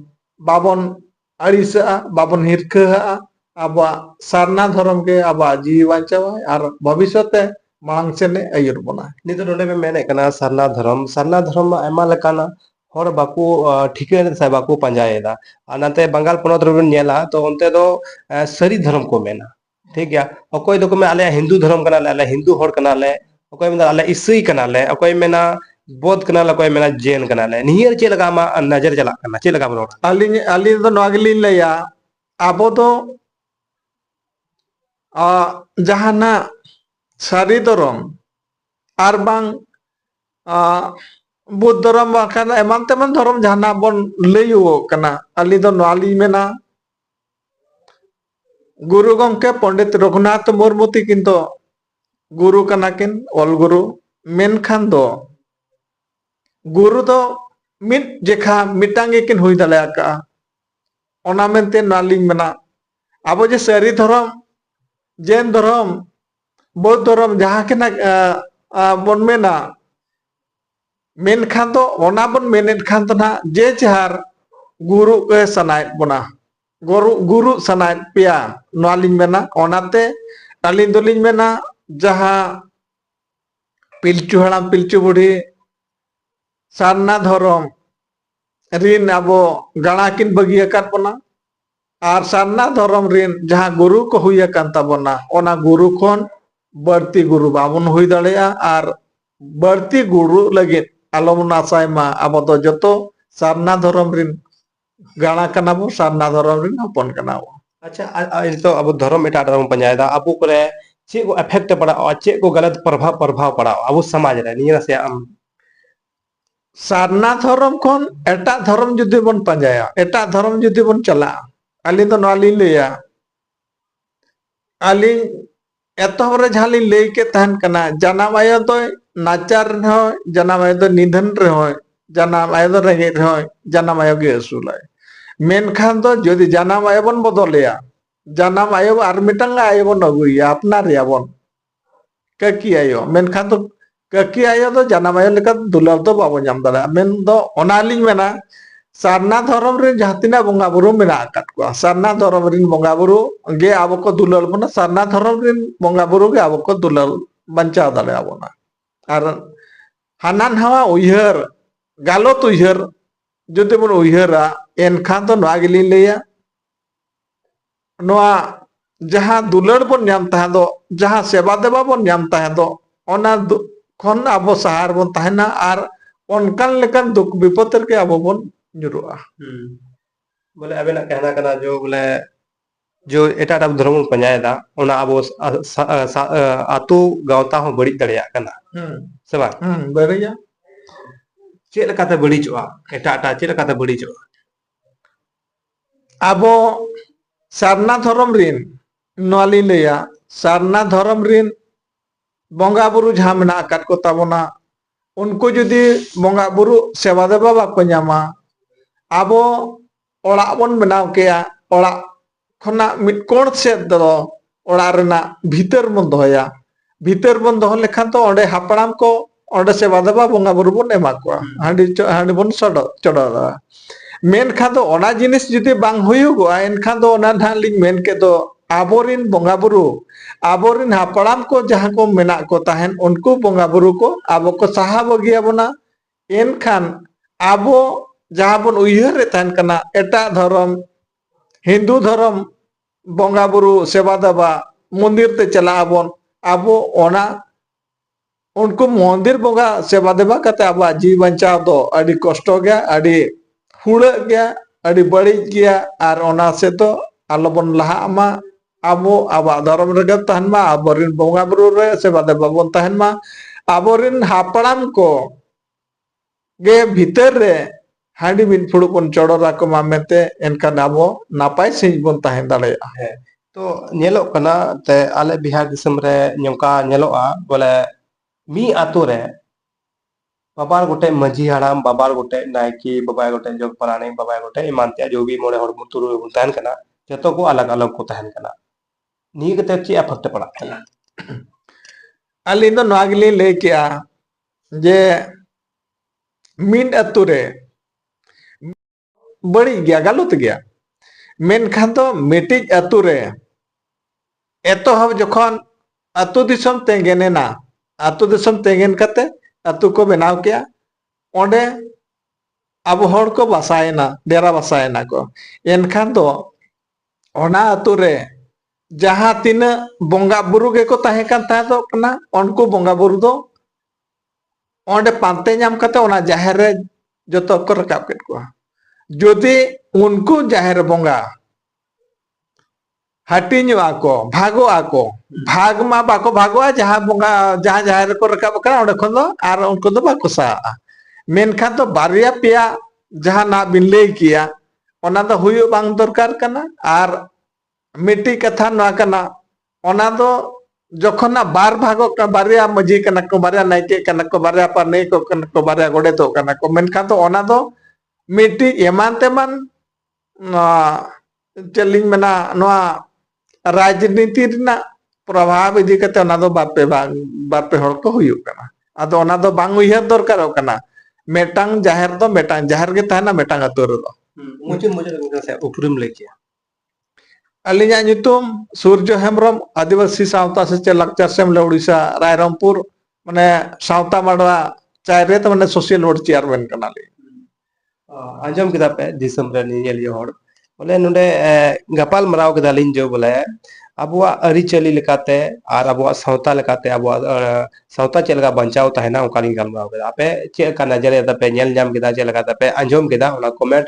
ᱵᱟᱵᱚᱱ ᱟᱹᱲᱤᱥᱟᱜᱼᱟ ᱵᱟᱵᱚᱱ ᱦᱤᱨᱠᱷᱟᱹᱦᱟᱜᱼᱟ ᱟᱵᱚᱣᱟᱜ ᱥᱟᱨᱱᱟ ᱫᱷᱚᱨᱚᱢ ᱜᱮ ᱟᱵᱚᱣᱟᱜ ᱡᱤᱣᱤ ᱵᱟᱧᱪᱟᱣᱟᱭ ᱟᱨ ᱵᱷᱚᱵᱤᱥᱥᱚᱛ ᱮ ᱢᱟᱲᱟᱝ ᱥᱮᱱ ᱮ ᱟᱹᱭᱩᱨ ᱵᱚᱱᱟ ᱱᱤᱛᱚᱜ ᱱᱚᱰᱮ ᱵᱮᱱ ᱢᱮᱱᱮᱫ ᱠᱟᱱᱟ ᱥᱟᱨᱱᱟ ᱫᱷᱚᱨᱚᱢ ᱥᱟᱨᱱᱟ ᱫᱷᱚᱨᱚᱢ ᱢᱟ ᱟᱭᱢᱟ ᱞᱮᱠᱟᱱᱟ ᱦᱚᱲ ᱵᱟᱠᱚ ᱴᱷᱤᱠᱟᱹᱭᱮᱫᱟ ᱥᱮ ᱵᱟᱠᱚ ᱯᱟᱸᱡᱟᱭᱮᱫᱟ ᱟᱨ ᱱᱟᱛᱮ ᱵᱟᱝᱜᱟᱞ ᱯᱚᱱᱚᱛ ᱨᱮᱵᱚᱱ ᱧᱮᱞᱟ ᱛᱚ ᱚᱱᱛᱮ ᱫᱚ ᱥᱟᱹᱨᱤ ᱫᱷᱚᱨᱚᱢ ᱠᱚ ᱢᱮᱱᱟ ᱴᱷᱤᱠ ᱜᱮᱭᱟ ᱚᱠᱚᱭ ᱫᱚᱠᱚ ᱢᱮᱱᱟ ᱟᱞᱮᱭᱟᱜ ᱦᱤᱱᱫᱩ ᱫᱷᱚᱨᱚᱢ ᱠᱟᱱᱟᱞᱮ ᱟᱞᱮ ᱦᱤᱱᱫᱩ ᱦᱚᱲ ᱠᱟᱱᱟᱞᱮ ᱚᱠᱚᱭ ᱢᱮᱱᱫᱟ ᱟᱞᱮ ᱤᱥᱟᱹᱭ ᱠᱟᱱᱟᱞᱮ ᱚᱠᱚᱭ ᱢᱮᱱᱟ ᱵᱳᱫᱷ ᱠᱟᱱᱟᱞᱮ ᱚᱠᱚᱭ ᱢᱮᱱᱟ ᱡᱮᱱ ᱠᱟᱱᱟᱞᱮ ᱱᱤᱭᱟᱹ ᱪᱮᱫ ᱞᱮᱠᱟ ᱟᱢᱟᱜ ᱱᱚᱡᱚᱨ ᱪᱟᱞᱟᱜ ᱠᱟᱱᱟ ᱪᱮᱫ ᱞᱮᱠᱟᱢ ᱨᱚᱲᱟ ᱟᱹᱞᱤᱧ ᱟᱹᱞᱤᱧ ᱫᱚ ᱱᱚᱣᱟ ᱜᱮᱞᱤᱧ ᱞᱟᱹᱭᱟ ᱟᱵᱚ ᱫᱚ ᱟ, ᱡᱟᱦᱟᱱᱟᱜ ᱥᱟᱹᱨᱤ ᱫᱷᱚᱨᱚᱢ ᱟᱨ ᱵᱟᱝ ᱟ, ᱵᱩᱫᱷ ᱫᱷᱚᱨᱚᱢ ᱵᱟᱝᱠᱷᱟᱱ ᱮᱢᱟᱱ ᱛᱮᱢᱟᱱ ᱫᱷᱚᱨᱚᱢ ᱡᱟᱦᱟᱱᱟᱜ ᱵᱚᱱ ᱞᱟᱹᱭᱚᱜ ᱠᱟᱱᱟ ᱟᱹᱞᱤᱧ ᱫᱚ ᱱᱚᱣᱟ ᱞᱤᱧ ᱢᱮᱱᱟ ᱜᱩᱨᱩ ᱜᱚᱢᱠᱮ ᱯᱚᱱᱰᱤᱛ ᱨᱚᱜᱷᱩᱱᱟᱛᱷ ᱢᱩᱨᱢᱩ ᱛᱤᱠᱤᱱ ᱫᱚ ᱜᱩᱨᱩ ᱠᱟᱱᱟ ᱠᱤᱱ ᱚᱞ ᱜᱩᱨᱩ ᱢᱮᱱᱠᱷᱟᱱ ᱫᱚ ᱜᱩᱨᱩ ᱫᱚ ᱢᱤᱫ ᱡᱮᱠᱷᱟ ᱢᱤᱫᱴᱟᱝ ᱜᱮᱠᱤᱱ ᱦᱩᱭ ᱫᱟᱲᱮ ᱟᱠᱟᱫᱼᱟ ᱚᱱᱟ ᱢᱮᱱᱛᱮ ᱱᱚᱣᱟ ᱞᱤᱧ ᱢᱮᱱᱟ ᱟᱵᱚ ᱡᱮ ᱥᱟᱹᱨᱤ ᱫᱷᱚᱨᱚᱢ ᱡᱮᱱ ᱫᱷᱚᱨᱚᱢ ᱵᱳᱫᱷ ᱫᱷᱚᱨᱚᱢ ᱡᱟᱦᱟᱸ ᱠᱤᱱᱟᱜ ᱵᱚᱱ ᱢᱮᱱᱟ ᱢᱮᱱᱠᱷᱟᱱ ᱫᱚ ᱚᱱᱟ ᱵᱚᱱ ᱢᱮᱱᱮᱫ ᱠᱷᱟᱱ ᱫᱚ ᱱᱟᱦᱟᱜ ᱡᱮ ᱡᱟᱦᱟᱨ ᱜᱩᱨᱩᱜ ᱮ ᱥᱟᱱᱟᱭᱮᱫ ᱵᱚᱱᱟ ᱜᱩᱨᱩ ᱜᱩᱨᱩ ᱥᱟᱱᱟᱭᱮᱫ ᱯᱮᱭᱟ ᱱᱚᱣᱟ ᱞᱤᱧ ᱢᱮᱱᱟ ᱚᱱᱟᱛᱮ ᱟᱹᱞᱤᱧ ᱫᱚᱞᱤᱧ ᱢᱮᱱᱟ ᱡᱟᱦᱟᱸ ᱯᱤᱞᱪᱩ ᱦᱟᱲᱟᱢ ᱯᱤᱞᱪᱩ ᱵᱩᱲᱦᱤ ᱥᱟᱨᱱᱟ ᱫᱷᱚᱨᱚᱢ ᱨᱤᱱ ᱟᱵᱚ ᱜᱟᱬᱟ ᱠᱤᱱ ᱵᱟᱹᱜᱤ ᱟᱠᱟᱫ ᱵᱚᱱᱟ ᱟᱨ ᱥᱟᱨᱱᱟ ᱫᱷᱚᱨᱚᱢ ᱨᱤᱱ ᱡᱟᱦᱟᱸ ᱜᱩᱨᱩ ᱠᱚ ᱦᱩᱭ ᱟᱠᱟᱱ ᱛᱟᱵᱚᱱᱟ ᱚᱱᱟ ᱜᱩᱨᱩ ᱠᱷᱚᱱ ᱵᱟᱹᱲᱛᱤ ᱜᱩᱨᱩ ᱵᱟᱵᱚᱱ ᱦᱩᱭ ᱫᱟᱲᱮᱭᱟᱜᱼᱟ ᱟᱨ ᱵᱟᱹᱲᱛᱤ ᱜᱩᱨᱩ ᱞᱟᱹᱜᱤᱫ ᱟᱞᱚᱵᱚᱱ ᱟᱥᱟᱭ ᱢᱟ ᱟᱵᱚ ᱫᱚ ᱡᱚᱛᱚ ᱥᱟᱨᱱᱟ ᱫᱷᱚᱨᱚᱢ ᱨᱤᱱ ᱜᱟᱬᱟ ᱠᱟᱱᱟ ᱵᱚ ᱥᱟᱨᱱᱟ ᱫᱷᱚᱨᱚᱢ ᱨᱮᱱ ᱦᱚᱯᱚᱱ ᱠᱟᱱᱟ ᱵᱚ ᱟᱪᱪᱷᱟ ᱱᱤᱛᱚᱜ ᱟᱵᱚ ᱫᱷᱚᱨᱚᱢ ᱮᱴᱟᱜ ᱮᱴᱟᱜ ᱵᱚᱱ ᱯᱟᱸᱡᱟᱭᱮᱫᱟ ᱟᱵᱚ ᱠᱚᱨᱮ ᱪᱮᱫ ᱠᱚ ᱮᱯᱷᱮᱠᱴ ᱯᱟᱲᱟᱜᱼᱟ ᱪᱮᱫ ᱠᱚ ᱜᱟᱞᱟᱛ ᱯᱨᱚᱵᱷᱟᱵ ᱯᱨᱚᱵᱷᱟᱵ ᱯᱟᱲᱟᱜᱼᱟ ᱟᱵᱚ ᱥᱚᱢᱟᱡᱽ ᱨᱮ ᱱᱤᱭᱟᱹ ᱱᱟᱥᱮ ᱟᱢ ᱥᱟᱨᱱᱟ ᱫᱷᱚᱨᱚᱢ ᱠᱷᱚᱱ ᱮᱴᱟᱜ ᱫᱷᱚᱨᱚᱢ ᱡᱩᱫᱤ ᱵᱚᱱ ᱯᱟᱸᱡᱟᱭᱟ ᱮᱴᱟᱜ ᱫᱷᱚᱨᱚᱢ ᱡᱩᱫᱤ ᱵᱚᱱ ᱪᱟᱞᱟᱜᱼᱟ ᱟᱹᱞᱤᱧ ᱫᱚ ᱱᱚᱣᱟ ᱞᱤᱧ ᱞᱟᱹᱭᱟ ᱟᱹᱞᱤᱧ ᱮᱛᱚᱦᱚᱵ ᱨᱮ ᱡᱟᱦᱟᱸ ᱞᱤᱧ ᱞᱟᱹᱭ ᱠᱮᱫ ᱛᱟᱦᱮᱱ ᱠᱟᱱᱟ ᱡᱟᱱᱟᱢ ᱟᱭᱳ ᱫᱚᱭ ᱱᱟᱪᱟᱨ ᱨᱮᱦᱚᱸ ᱡᱟᱱᱟᱢ ᱟᱭᱳ ᱫᱚ ᱱᱤᱫᱷᱟᱹᱱ ᱨᱮᱦᱚᱸᱭ ᱡᱟᱱᱟᱢ ᱟᱭᱳ ᱫᱚ ᱨᱮᱸᱜᱮᱡ ᱨᱮᱦᱚᱸᱭ ᱡᱟᱱᱟᱢ ᱟᱭᱳ ᱜᱮ ᱟᱹᱥᱩᱞᱟᱭ ᱢᱮᱱᱠᱷᱟᱱ ᱫᱚ ᱡᱩᱫᱤ ᱡᱟᱱᱟᱢ ᱟᱭᱳ ᱵᱚᱱ ᱵᱚᱫᱚᱞᱮᱭᱟ ᱡᱟᱱᱟᱢ ᱟᱭᱳ ᱟᱨ ᱢᱤᱫᱴᱟᱝ ᱟᱭᱳ ᱵᱚᱱ ᱟᱹᱜᱩᱭᱮᱭᱟ ᱟᱯᱱᱟᱨᱮᱭᱟ ᱵᱚᱱ ᱠᱟᱹᱠᱤ ᱟᱭᱳ ᱢᱮᱱᱠᱷᱟᱱ ᱫᱚ ᱠᱟᱹᱠᱤ ᱟᱭᱳ ᱫᱚ ᱡᱟᱱᱟᱢ ᱟᱭᱳ ᱞᱮᱠᱟ ᱫᱩᱞᱟᱹᱲ ᱫᱚ ᱵᱟᱵᱚ ᱧᱟᱢ ᱫᱟᱲᱮᱭᱟᱜᱼᱟ ᱢᱮᱱ ᱫᱚ ᱚᱱᱟ ᱞᱤᱧ ᱢᱮᱱᱟ ᱥᱟᱨᱱᱟ ᱫᱷᱚᱨᱚᱢ ᱨᱮ ᱡᱟᱦᱟᱸ ᱛᱤᱱᱟᱹᱜ ᱵᱚᱸᱜᱟ ᱵᱩᱨᱩ ᱢᱮᱱᱟᱜ ᱟᱠᱟᱫ ᱠᱚᱣᱟ ᱥᱟᱨᱱᱟ ᱫᱷᱚᱨᱚᱢ ᱨᱮᱱ ᱵᱚᱸᱜᱟ ᱵᱩᱨᱩ ᱜᱮ ᱟᱵᱚ ᱠᱚ ᱫᱩᱞᱟᱹᱲ ᱵᱚᱱᱟ ᱥᱟᱨᱱᱟ ᱫᱷᱚᱨᱚᱢ ᱨᱮᱱ ᱵᱚᱸᱜᱟ ᱵᱩᱨᱩ ᱜᱮ ᱟᱵᱚ ᱠᱚ ᱫᱩᱞᱟᱹᱲ ᱵᱟᱧᱪᱟᱣ ᱫᱟᱲᱮᱭᱟᱵᱚᱱᱟ ᱟᱨ ᱦᱟᱱᱟ ᱱᱟᱣᱟ ᱩᱭᱦᱟᱹᱨ ᱜᱟᱞᱚᱛ ᱩᱭᱦᱟᱹᱨ ᱡᱩᱫᱤ ᱵᱚᱱ ᱩᱭᱦᱟᱹᱨᱟ ᱮᱱᱠᱷᱟᱱ ᱫᱚ ᱱᱚᱣᱟ ᱜᱮᱞᱤᱧ ᱞᱟᱹᱭᱟ ᱱᱚᱣᱟ ᱡᱟᱦᱟᱸ ᱫᱩᱞᱟᱹᱲ ᱵᱚᱱ ᱧᱟᱢ ᱛᱟᱦᱮᱸ ᱫᱚ ᱡᱟᱦᱟᱸ ᱥᱮᱵᱟ ᱫᱮᱵᱟ ᱵᱚᱱ ᱧᱟᱢ ᱛᱟᱦᱮᱸ ᱫᱚ ᱚᱱᱟ ᱠᱷᱚᱱ ᱟᱵᱚ ᱥᱟᱦᱟ ᱨᱮᱵᱚᱱ ᱛᱟᱦᱮᱱᱟ ᱟᱨ ᱚᱱᱠᱟᱱ ᱞᱮᱠᱟᱱ ᱫᱩᱠ ᱵᱤᱯᱚᱫ ᱨᱮᱜᱮ ᱟᱵᱚ ᱵᱚᱱ ᱧᱩᱨᱩᱜᱼᱟ ᱵᱚᱞᱮ ᱟᱵᱮᱱᱟᱜ ᱠᱟᱦᱱᱟ ᱠᱟᱱᱟ ᱡᱚ ᱵᱚᱞᱮ ᱡᱚ ᱮᱴᱟᱜ ᱮᱴᱟᱜ ᱫᱷᱚᱨᱚᱢ ᱵᱚᱱ ᱯᱟᱸᱡᱟᱭᱮᱫᱟ ᱚᱱᱟ ᱟᱵᱚ ᱟᱛᱳ ᱜᱟᱶᱛᱟ ᱦᱚᱸ ᱵᱟᱹᱲᱤᱡ ᱫᱟᱲᱮᱭᱟᱜ ᱠᱟᱱᱟ ᱥᱮ ᱵᱟᱝ ᱵᱟᱹᱲᱤᱡᱟ ᱪᱮᱫ ᱞᱮᱠᱟᱛᱮ ᱵᱟᱹᱲᱤᱡᱚᱜᱼᱟ ᱮᱴᱟᱜ ᱮᱴᱟᱜ ᱪᱮᱫ ᱞᱮᱠᱟᱛᱮ ᱵᱟᱹᱲᱤᱡᱚᱜᱼᱟ ᱟᱵᱚ ᱥᱟᱨᱱᱟ ᱫᱷᱚᱨᱚᱢ ᱨᱤᱱ ᱱᱚᱣᱟ ᱞᱤᱧ ᱞᱟᱹᱭᱟ ᱥᱟᱨᱱᱟ ᱫᱷᱚᱨᱚᱢ ᱨᱤᱱ ᱵᱚᱸᱜᱟ ᱵᱩᱨᱩ ᱡᱟᱦᱟᱸ ᱢᱮᱱᱟᱜ ᱟᱠᱟᱫ ᱠᱚ ᱛᱟᱵᱚᱱᱟ ᱩᱱᱠᱩ ᱡᱩᱫᱤ ᱵᱚᱸᱜᱟ ᱵᱩᱨᱩ ᱥᱮᱵᱟ ᱫᱮᱵᱟ ᱵᱟᱠᱚ ᱧᱟᱢᱟ ᱟᱵᱚ ᱚᱲᱟᱜ ᱵᱚᱱ ᱵᱮᱱᱟᱣ ᱠᱮᱭᱟ ᱚᱲᱟᱜ ᱠᱷᱚᱱᱟᱜ ᱢᱤᱫ ᱠᱚᱬ ᱥᱮᱫ ᱫᱚ ᱚᱲᱟᱜ ᱨᱮᱱᱟᱜ ᱵᱷᱤᱛᱟᱹᱨ ᱵᱚᱱ ᱫᱚᱦᱚᱭᱟ ᱵᱷᱤᱛᱟᱹᱨ ᱵᱚᱱ ᱫᱚᱦᱚ ᱞᱮᱠᱷᱟᱱ ᱛᱚ ᱚᱸᱰᱮ ᱦᱟᱯᱲᱟᱢ ᱠᱚ ᱚᱸᱰᱮ ᱥᱮᱵᱟ ᱫᱮᱵᱟ ᱵᱚᱸᱜᱟ ᱵᱩᱨᱩ ᱵᱚᱱ ᱮᱢᱟ ᱠᱚᱣᱟ ᱦᱟᱺᱰᱤ ᱪᱚ- ᱦᱟᱺᱰᱤ ᱵᱚᱱ ᱥᱚᱰᱚ- ᱪᱚᱰᱚᱨᱟ ᱢᱮᱱᱠᱷᱟᱱ ᱫᱚ ᱚᱱᱟ ᱡᱤᱱᱤᱥ ᱡᱩᱫᱤ ᱵᱟᱝ ᱦᱩᱭᱩᱜᱚᱜᱼᱟ ᱮᱱᱠᱷᱟᱱ ᱫᱚ ᱚᱱᱟ ᱱᱟᱦᱟᱜ ᱞᱤᱧ ᱢᱮᱱ ᱠᱮᱫ ᱫᱚ ᱟᱵᱚᱨᱤᱱ ᱵᱚᱸᱜᱟ ᱵᱩᱨᱩ ᱟᱵᱚᱨᱤᱱ ᱦᱟᱯᱲᱟᱢ ᱠᱚ ᱡᱟᱦᱟᱸ ᱠᱚ ᱢᱮᱱᱟᱜ ᱠᱚ ᱛᱟᱦᱮᱱ ᱩᱱᱠᱩ ᱵᱚᱸᱜᱟ ᱵᱩᱨᱩ ᱠᱚ ᱟᱵᱚ ᱠᱚ ᱥᱟᱦᱟ ᱵᱟᱹᱜᱤᱭᱟ ᱵᱚᱱᱟ ᱮᱱᱠᱷᱟᱱ ᱟᱵᱚ ᱡᱟᱦᱟᱸ ᱵᱚᱱ ᱩᱭᱦᱟᱹᱨᱮᱫ ᱛᱟᱦᱮᱱ ᱠᱟᱱᱟ ᱮᱴᱟᱜ ᱫᱷᱚᱨᱚᱢ ᱦᱤᱱᱫᱩ ᱫᱷᱚᱨᱚᱢ ᱵᱚᱸᱜᱟ ᱵᱩᱨᱩ ᱥᱮᱵᱟ ᱫᱮᱵᱟ ᱢᱚᱱᱫᱤᱨ ᱛᱮ ᱪᱟᱞᱟᱜ ᱟᱵᱚᱱ ᱟᱵᱚ ᱚᱱᱟ ᱩᱱᱠᱩ ᱢᱚᱱᱫᱤᱨ ᱵᱚᱸᱜᱟ ᱥᱮᱵᱟ ᱫᱮᱵᱟ ᱠᱟᱛᱮ ᱟᱵᱚᱣᱟᱜ ᱡᱤᱣᱤ ᱵᱟᱧᱪᱟᱣ ᱫᱚ ᱟᱹᱰᱤ ᱠᱚᱥᱴᱚ ᱜᱮᱭᱟ ᱟᱹᱰᱤ ᱦᱩᱲᱟᱹᱜ ᱜᱮᱭᱟ ᱟᱹᱰᱤ ᱵᱟᱹᱲᱤᱡ ᱜᱮᱭᱟ ᱟᱨ ᱚᱱᱟ ᱥᱮᱫ ᱫᱚ ᱟᱞᱚᱵᱚᱱ ᱞᱟᱦᱟᱜ ᱢᱟ ᱟᱵᱚ ᱟᱵᱚᱣᱟᱜ ᱫᱷᱚᱨᱚᱢ ᱨᱮᱜᱮ ᱛᱟᱦᱮᱱ ᱢᱟ ᱟᱵᱚᱨᱮᱱ ᱵᱚᱸᱜᱟ ᱵᱩᱨᱩ ᱨᱮ ᱥᱮᱵᱟ ᱫᱮᱵᱟ ᱵᱚᱱ ᱛᱟᱦᱮᱱ ᱢᱟ ᱟᱵᱚᱨᱮᱱ ᱦᱟᱯᱲᱟᱢ ᱠᱚ ᱜᱮ ᱵᱷᱤᱛᱟᱹᱨ ᱨᱮ ᱦᱟᱺᱰᱤ ᱢᱤᱫ ᱯᱷᱩᱲᱩᱜ ᱵᱚᱱ ᱪᱚᱰᱚᱨ ᱟᱠᱚ ᱢᱟ ᱢᱮᱱᱛᱮ ᱮᱱᱠᱷᱟᱱ ᱟᱵᱚ ᱱᱟᱯᱟᱭ ᱥᱟᱺᱦᱤᱡ ᱵᱚᱱ ᱛᱟᱦᱮᱸ ᱫᱟᱲᱮᱭᱟᱜᱼᱟ ᱦᱮᱸ ᱛᱚ ᱧᱮᱞᱚᱜ ᱠᱟᱱᱟ ᱛᱮ ᱟᱞᱮ ᱵᱤᱦᱟᱨ ᱫᱤᱥᱚᱢ ᱨᱮ ᱱᱚᱝᱠᱟ ᱧᱮᱞᱚᱜᱼᱟ ᱵᱚᱞᱮ ᱢᱤᱫ ᱟᱛᱳ ᱨᱮ ᱵᱟᱵᱟᱨ ᱜᱚᱴᱮᱡ ᱢᱟᱺᱡᱷᱤ ᱦᱟᱲᱟᱢ ᱵᱟᱵᱟᱨ ᱜᱚᱴᱮᱡ ᱱᱟᱭᱠᱮ ᱵᱟᱵᱟᱭ ᱜᱚᱴᱮᱡ ᱡᱚᱜᱽ ᱯᱟᱨᱟᱱᱤᱠ ᱵᱟᱵᱟᱭ ᱜᱚᱴᱮᱡ ᱮᱢᱟᱱ ᱛᱮᱭᱟᱜ ᱡᱚ ᱜᱮ ᱢᱚᱬᱮ ᱦᱚᱲ ᱵᱚᱱ ᱛᱩᱨᱩᱭ ᱵᱚᱱ ᱛᱟᱦᱮᱱ ᱠᱟᱱᱟ ᱡᱚᱛᱚ ᱠᱚ ᱟᱞᱟᱜᱽ ᱟᱞᱟᱜᱽ ᱠᱚ ᱛᱟᱦᱮᱱ ᱠᱟᱱᱟ ᱱᱤᱭᱟᱹ ᱠᱟᱛᱮ ᱪᱮᱫ ᱮᱯᱷᱮᱠᱴ ᱯᱟᱲᱟᱜ ᱠᱟᱱᱟ ᱟᱹᱞᱤᱧ ᱫᱚ ᱱᱚᱣᱟ ᱜᱮᱞᱤᱧ ᱞᱟᱹᱭ ᱠᱮᱜᱼᱟ ᱡᱮ ᱢᱤᱫ ᱟᱛᱳ ᱨᱮ ᱵᱟᱹᱲᱤᱡ ᱜᱮᱭᱟ ᱜᱟᱞᱚᱛ ᱜᱮᱭᱟ ᱢᱮᱱᱠᱷᱟᱱ ᱫᱚ ᱢᱤᱫᱴᱤᱡ ᱟᱛᱳ ᱨᱮ ᱮᱛᱚᱦᱚᱵ ᱡᱚᱠᱷᱚᱱ ᱟᱛᱳ ᱫᱤᱥᱚᱢ ᱛᱮᱸᱜᱮᱱ ᱮᱱᱟ ᱟᱛᱳ ᱫᱤᱥᱚᱢ ᱛᱮᱸᱜᱮᱱ ᱠᱟᱛᱮ ᱟᱛᱳ ᱠᱚ ᱵᱮᱱᱟᱣ ᱠᱮᱜᱼᱟ ᱚᱸᱰᱮ ᱟᱵᱚ ᱦᱚᱲ ᱠᱚ ᱵᱟᱥᱟᱭᱮᱱᱟ ᱰᱮᱨᱟ ᱵᱟᱥᱟᱭᱮᱱᱟ ᱠᱚ ᱮᱱᱠᱷᱟᱱ ᱫᱚ ᱚᱱᱟ ᱟᱛᱳ ᱨᱮ ᱡᱟᱦᱟᱸ ᱛᱤᱱᱟᱹᱜ ᱵᱚᱸᱜᱟ ᱵᱩᱨᱩ ᱜᱮᱠᱚ ᱛᱟᱦᱮᱸ ᱠᱟᱱ ᱛᱟᱦᱮᱸᱫᱚᱜ ᱠᱟᱱᱟ ᱩᱱᱠᱩ ᱵᱚᱸᱜᱟ ᱵᱩᱨᱩ ᱫᱚ ᱚᱸᱰᱮ ᱯᱟᱱᱛᱮ ᱧᱟᱢ ᱠᱟᱛᱮ ᱚᱱᱟ ᱡᱟᱦᱮᱨ ᱨᱮ ᱡᱚᱛᱚ ᱠᱚ ᱨᱟᱠᱟᱵ ᱠᱮᱫ ᱠᱚᱣᱟ ᱡᱩᱫᱤ ᱩᱱᱠᱩ ᱡᱟᱦᱮᱨ ᱵᱚᱸᱜᱟ ᱦᱟᱹᱴᱤᱧᱚᱜᱼᱟ ᱠᱚ ᱵᱷᱟᱜᱚᱜᱼᱟ ᱠᱚ ᱵᱷᱟᱜᱽ ᱢᱟ ᱵᱟᱠᱚ ᱵᱷᱟᱜᱚᱜᱼᱟ ᱡᱟᱦᱟᱸ ᱵᱚᱸᱜᱟ ᱡᱟᱦᱟᱸ ᱡᱟᱦᱮᱨ ᱨᱮᱠᱚ ᱨᱟᱠᱟᱵ ᱟᱠᱟᱱᱟ ᱚᱸᱰᱮ ᱠᱷᱚᱱ ᱫᱚ ᱟᱨ ᱩᱱᱠᱩ ᱫᱚ ᱵᱟᱠᱚ ᱥᱟᱦᱟᱜᱼᱟ ᱢᱮᱱᱠᱷᱟᱱ ᱫᱚ ᱵᱟᱨᱭᱟ ᱯᱮᱭᱟ ᱡᱟᱦᱟᱸ ᱱᱟᱦᱟᱜ ᱵᱤᱱ ᱞᱟᱹᱭ ᱠᱮᱭᱟ ᱚᱱᱟ ᱫᱚ ᱦᱩᱭᱩᱜ ᱵᱟᱝ ᱫᱚᱨᱠᱟᱨ ᱠᱟᱱᱟ ᱟᱨ ᱢᱤᱫᱴᱤᱡ ᱠᱟᱛᱷᱟ ᱱᱚᱣᱟ ᱠᱟᱱᱟ ᱚᱱᱟ ᱫᱚ ᱡᱚᱠᱷᱚᱱ ᱱᱟᱜ ᱵᱟᱨ ᱵᱷᱟᱜᱚᱜ ᱠᱟᱱᱟ ᱵᱟᱨᱭᱟ ᱢᱟᱺᱡᱷᱤ ᱠᱟᱱᱟ ᱠᱚ ᱵᱟᱨᱭᱟ ᱱᱟᱭᱠᱮ ᱠᱟᱱᱟ ᱠᱚ ᱵᱟᱨᱭᱟ ᱯᱟᱨᱱᱟᱹᱭ ᱠᱚ ᱠᱟᱱᱟ ᱠᱚ ᱵᱟᱨᱭᱟ ᱜᱚᱰᱮᱛᱚᱜ ᱠᱟᱱᱟ ᱠᱚ ᱢᱮᱱᱠᱷᱟᱱ ᱫᱚ ᱚᱱᱟ ᱫᱚ ᱢᱤᱫᱴᱤᱡ ᱮᱢᱟᱱ ᱛᱮᱢᱟᱱ ᱪᱮᱫ ᱞᱤᱧ ᱢᱮᱱᱟ ᱱᱚᱣᱟ ᱨᱟᱡᱽᱱᱤᱛᱤ ᱨᱮᱱᱟᱜ ᱯᱨᱚᱵᱷᱟᱵᱽ ᱤᱫᱤ ᱠᱟᱛᱮ ᱚᱱᱟ ᱫᱚ ᱵᱟᱨᱯᱮ ᱵᱟᱝ ᱵᱟᱨᱯᱮ ᱦᱚᱲ ᱠᱚ ᱦᱩᱭᱩᱜ ᱠᱟᱱᱟ ᱟᱫᱚ ᱚᱱᱟ ᱫᱚ ᱵᱟᱝ ᱩᱭᱦᱟᱹᱨ ᱫᱚᱨᱠᱟᱨᱚᱜ ᱠᱟᱱᱟ ᱢᱤᱫᱴᱟᱝ ᱡᱟᱦᱮᱨ ᱫᱚ ᱢᱤᱫᱴᱟᱝ ᱡᱟᱦᱮᱨ ᱜᱮ ᱛᱟᱦᱮᱱᱟ ᱢᱤᱫᱴᱟᱝ ᱟᱹᱛᱩ ᱨᱮᱫᱚ ᱢᱩᱪᱟᱹᱫ ᱢᱩᱪᱟᱹᱫ ᱩᱯᱨᱩᱢ ᱞᱟᱹᱭ ᱠᱮᱭᱟ ᱟᱹᱞᱤᱧᱟᱜ ᱧᱩᱛᱩᱢ ᱥᱩᱨᱡᱚ ᱦᱮᱢᱵᱨᱚᱢ ᱟᱹᱫᱤᱵᱟᱹᱥᱤ ᱥᱟᱶᱛᱟ ᱥᱮᱪᱮᱫ ᱞᱟᱠᱪᱟᱨ ᱥᱮᱢᱞᱮ ᱩᱲᱤᱥᱥᱟ ᱨᱟᱭᱨᱚᱝᱯᱩᱨ ᱢᱟᱱᱮ ᱥᱟᱶᱛᱟ ᱢᱟᱰᱣᱟ ᱪᱟᱭᱨᱮ ᱛᱚ ᱢᱟᱱᱮ ᱥᱳᱥᱤᱭᱟᱞ ᱵᱳᱨᱰ ᱪᱮᱭᱟᱨᱢᱮᱱ ᱠᱟᱱᱟᱞᱤᱧ ᱟᱸᱡᱚᱢ ᱠᱮᱫᱟ ᱯᱮ ᱫᱤᱥᱚᱢ ᱨᱮ ᱧᱮᱧᱮᱞᱤᱭᱟᱹ ᱦᱚᱲ ᱵᱚᱞᱮ ᱱᱚᱰᱮ ᱜᱟᱯᱟᱞ ᱢᱟᱨᱟᱣ ᱠᱮᱫᱟᱞᱤᱧ ᱡᱮ ᱵᱚᱞᱮ ᱟᱵᱚᱣᱟᱜ ᱟᱹᱨᱤᱪᱟᱹᱞᱤ ᱞᱮᱠᱟᱛᱮ ᱟᱨ ᱟᱵᱚᱣᱟᱜ ᱥᱟᱶᱛᱟ ᱞᱮᱠᱟᱛᱮ ᱟᱵᱚᱣᱟᱜ ᱥᱟᱶᱛᱟ ᱪᱮᱫ ᱞᱮᱠᱟ ᱵᱟᱧᱪᱟᱣ ᱛᱟᱦᱮᱱᱟ ᱚᱱᱠᱟᱞᱤᱧ ᱜᱟᱞᱢᱟᱨᱟᱣ ᱠᱮᱫᱟ ᱟᱯᱮ ᱪᱮᱫ ᱞᱮᱠᱟ ᱱᱟᱡᱟᱨᱤᱭᱟ ᱛᱟᱯᱮ ᱧᱮᱞ ᱧᱟᱢ ᱠᱮᱫᱟ ᱪᱮᱫ ᱞᱮᱠᱟ ᱛᱟᱯᱮ ᱟᱸᱡᱚᱢ ᱠᱮᱫᱟ ᱚᱱᱟ ᱠᱚᱢᱮᱱᱴ